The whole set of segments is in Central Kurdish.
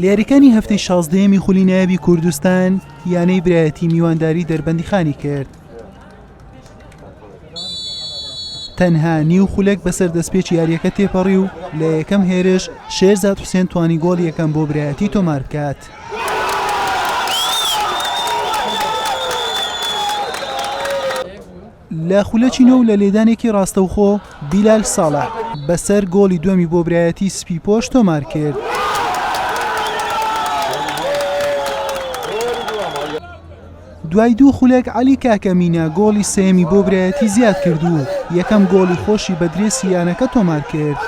لە یاریکانی هەفتەی شازدەیەمی خولی نایابی کوردستان یانەی برایەتی میوانداری دەربەندی خانی کرد تەنها نیو خولەک بەسەر دەستپێچ یاریەکە تێپەڕی و لە یەکەم هێرش شێرزاد حوسێن توانی گۆڵ یەکەم بۆ برایەتی تۆمار بکات. لە خولەکی نۆ و لە لێدانێکی ڕاستەوخۆ، بیلال ساڵح بەسەر گۆڵی دووەمی بۆ برایەتیی سپیپۆش تۆمارکرد. دوای دوو خولەک، عەلی کاکە مینا گۆڵی سێیەمی بۆ برایەتی زیادکرد و یەکەم گۆڵی خۆشی بە درێسی یانەکە تۆمارکرد.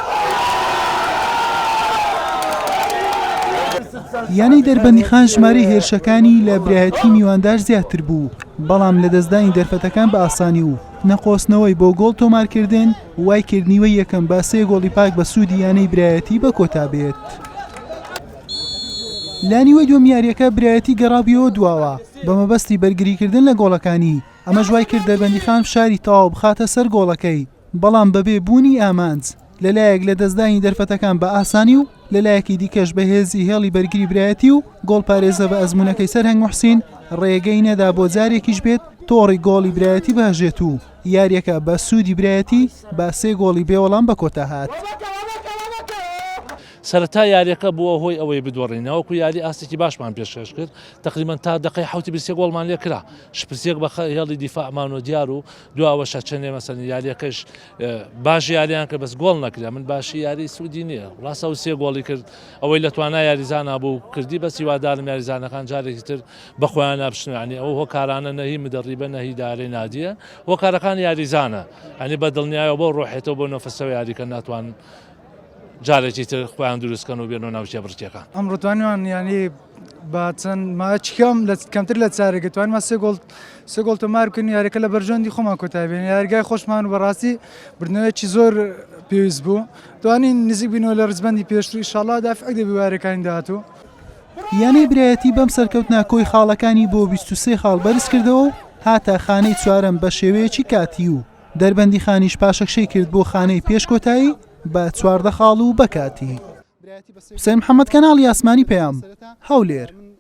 یانەی دەربەندیخان ژمارەی هێرشەکانی لە برایەتیی میواندار زیاتر بوو، بەڵام لەدەستدانی دەرفەتەکان بە ئاسانی و نەقۆستنەوەی بۆ گۆڵ تۆمارکردن وایکرد نیوەی یەکەم بە سێ گۆڵی پاک بە سوودی یانەی برایەتی بە کۆتابێت. لە نیوەی دووەم یارییەکە برایەتی گەڕابویەوە دواوە بە مەبەستی بەرگریکردن لە گۆڵەکانی، ئەمەش وایکرد دەربەندیخان فشاری تەواو بخاتە سەر گۆڵەکەی، بەڵام بەبێ بوونی ئامانج، لە لایەک لەدەستدانی دەرفەتەکان بە ئاسانی و لە لایەکی دیکەش بە هێزی هێڵی بەرگری برایەتی و گۆڵپارێزە بە ئەزموونەکەی سەرهەنگ موحسین ڕێگەی نەدا بۆ جارێکیش بێت تۆڕی گۆڵی برایەتی بهەژێت و یارییەکە بە سوودی برایەتی بە سێ گۆڵی بێوەڵام بە کۆتا هات. سەرەتای یارییەکە بووە هۆی ئەوەی بدۆڕین ناوەکو یاری ئاستێکی باشمان پێشکەش کرد تەقریبەن تا دەقەی حەوتی بیست و سێ گۆڵمان لێکرا شپرسێک بە هێڵی دیفاعمان و دیار و دو ئەوەش ئەچێنێ مەسەلەن یاریەکەش باش یاریان کرد بەس گۆڵ نەکرێ من باشی یاری سوودی نییە ڕاستە ئەو سێ گۆڵی کرد ئەوەی لە توانای یاریزانە بوو کردی بەس هیوادارم یاریزانەکان جارێکی تر بە خۆیان نابشتنانی ئەو هۆکارانە نەهی مدەڕیبە نەهی دارەی نادیە هۆکارەکان یاریزانە ئەنی بە دڵنیایەوە بۆ ڕۆحێتەوە بۆ نۆفەسەوە یاریکە ناتوان جارێکی تر خۆیان دروستکەن و بێنەوە ناوچە بڕکێکان ئەمڕۆ دوانیان یانی بە چەند ماچ کەم لە کەمتر لە چارێکە توانمان سێ گۆڵ سێ گۆڵ تۆمار بکەین یاریەکە لە بەرژەوەندی خۆمان کۆتایی بێنین یاریگای خۆشمان و بەڕاستی بردنەوەیەکی زۆر پێویست بوو توانین نزیک بینەوە لە ڕزبندی پێشتر ئیشاڵا دافعی دەبی وارەکانی داهاتوو یانەی برایەتی بەم سەرکەوتنە کۆی خاڵەکانی بۆ بیست و سێ خاڵ بەرزکردەوە و هاتە خانەی چوارەم بەشێوەیەکی کاتی و دەربەندیخانیش پاشەکشەی کرد بۆ خانەی پێش کۆتایی بە چواردە خاڵ و بە کاتی. حوسێن محەمەد کەناڵی ئاسمانی پەیام هەولێر.